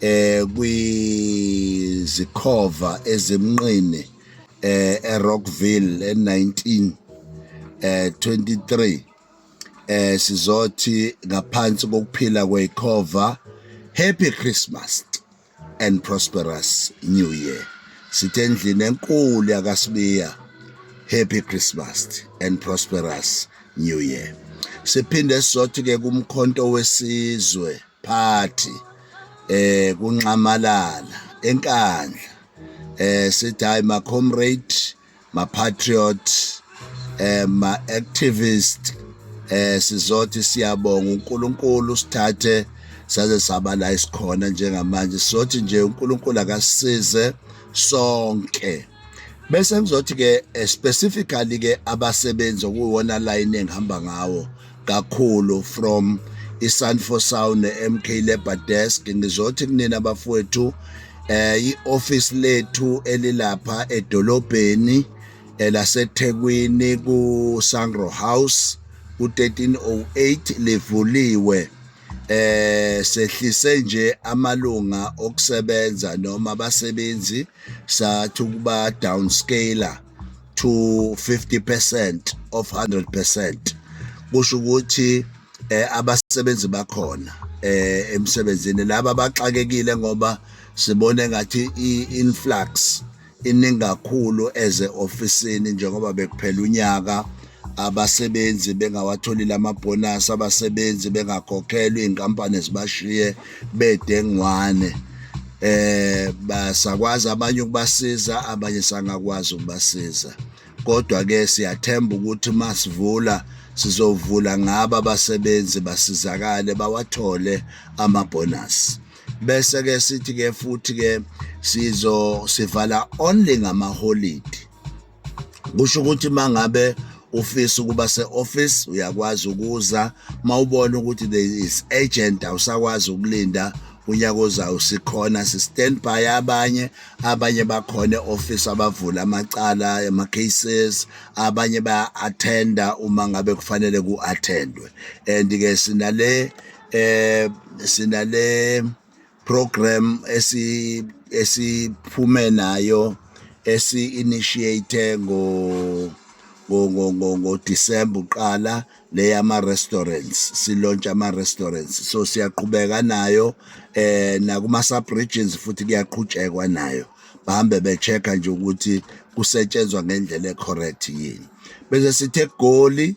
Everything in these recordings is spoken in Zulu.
eh kwizikhova ezimnqini eh eRockville e19 eh 23 eh sizothi ngaphansi kokuphila kwekhova happy christmas and prosperous new year sithe endlini enkulu yakasibiya happy christmas and prosperous new year siphinde sizothi ke kumkhonto wesizwe party eh kunxamalala enkandla eh sithi hayi ma comrade ma patriot eh ma activist eh sizothi siyabonga uNkulunkulu sithathe saze saba la isikhona njengamanje sizothi nje uNkulunkulu akasize sonke bese kuzothi ke eh, specifically ke abasebenzi okuwona line engihamba ngawo kakhulu from iSanfo Sound neMK Labor Desk ngizothi kunina bafowethu eh ioffice lethu elilapha edolobheni eh, laseThekwini ku Sangro House ku 1308 livuliwe eh sehlise nje amalunga okusebenza noma abasebenzi sathi ukuba downscaler to 50% of 100% kusho ukuthi eh abasebenzi bakhona eh emsebenzini laba baxakekile ngoba sibone ngathi i-influx iningi kakhulu eze ofisini njengoba bekuphela unyaka abasebenzi bengawatholile amabhonasi abasebenzi bengakhokhelwa iy'nkampani zibashiye bedengwane eh basakwazi abanye ukubasiza abanye sangakwazi ukubasiza kodwa ke siyathemba ukuthi masivula sizovula ngaba abasebenzi basizakale bawathole amabhonasi bese ke sithi ke futhi ke sizo sivala only ngamaholidi kusho ukuthi mangabe ufisa ukuba se-office uyakwazi ukuza mawubona ukuthi there is agent awusakwazi ukulinda unyaka ozayo sikhona si-standby abanye abanye bakhona e-office abavula amacala ama-cases abanye baya-athenda uma ngabe kufanele ku-athendwe and-ke sinale eh sinale program esi esiphume nayo esi initiate ngo ngo-December uqala le yama-restaurants silontsha ama-restaurants so siyaqhubeka nayo eh nakuma-subregions futhi kuyaqhutshekwa nayo bahambe be-check-a nje ukuthi kusetshenzwa ngendlela e-correct yini bese sithe egoli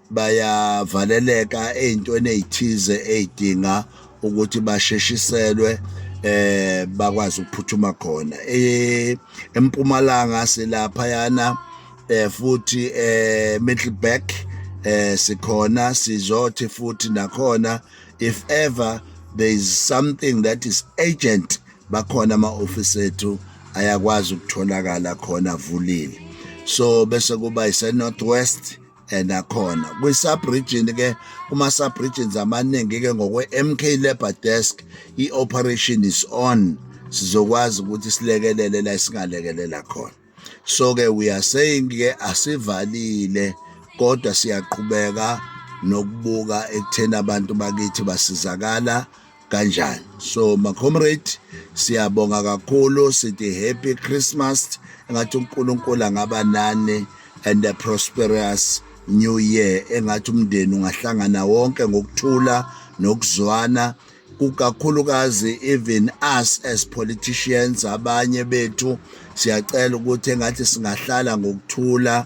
bayavaleleka ezintweni ezithize ezidinga ukuthi basheshiselwe eh bakwazi ukuphuthuma khona eh, empumalanga silapha yana eh futhi eh Middleburg eh sikhona sizothi futhi nakhona if ever there is something that is agent bakhona ama office ethu ayakwazi ukutholakala khona avulile so bese kuba ise northwest enakhona kwi-subregion ke kuma-subregions amaningi ke ngokwe-mk labour desk i-operation is on sizokwazi ukuthi silekelele la singalekelela khona so ke we are saying ke asivalile kodwa siyaqhubeka nokubuka ekutheni abantu bakithi basizakala kanjani so ma comrade siyabonga kakhulu sithi happy christmas engathi uNkulunkulu angaba nani and a prosperous new year engathi umndeni ungahlangana wonke ngokuthula nokuzwana kukakhulukazi even us as politicians abanye bethu siyacela ukuthi engathi singahlala ngokuthula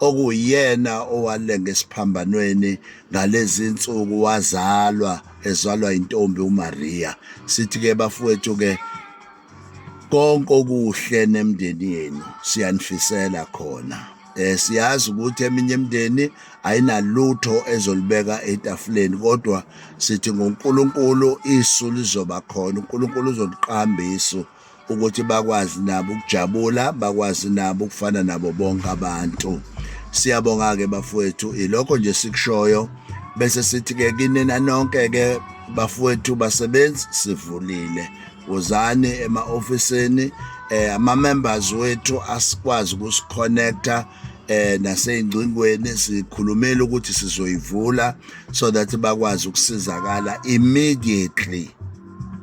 okuyena owalenga esiphambanweni ngalezi nsuku wazalwa ezalwa intombi uMaria sithi ke bafowethu ke konke okuhle nemndeni yenu siyanifisela khona eh siyazi ukuthi eminye imndeni ayinalutho ezolibeka etafuleni kodwa sithi ngoNkulunkulu isu lizoba khona uNkulunkulu uzoliqamba isu ukuthi bakwazi nabo ukujabula bakwazi nabo ukufana nabo bonke abantu siyabonga-ke bafowethu ilokho nje sikushoyo bese sithi-ke kinina nonke-ke bafowethu basebenzi sivulile wozani ema-ofisini eh ama-members wethu asikwazi ukusikhonekta eh naseyingcingweni sikhulumela ukuthi sizoyivula so that bakwazi ukusizakala immediately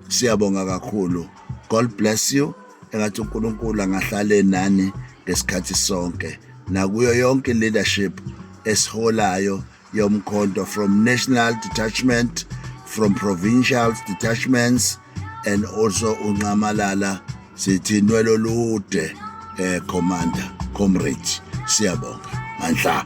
siyabonga kakhulu god bless you engathi unkulunkulu angahlale nani ngesikhathi sonke nakuyo yonke leadership esiholayo yomkhonto from national detachment from provincial detachments and also unqamalala sithi nwelo lude eh commander comrade siyabonga mandla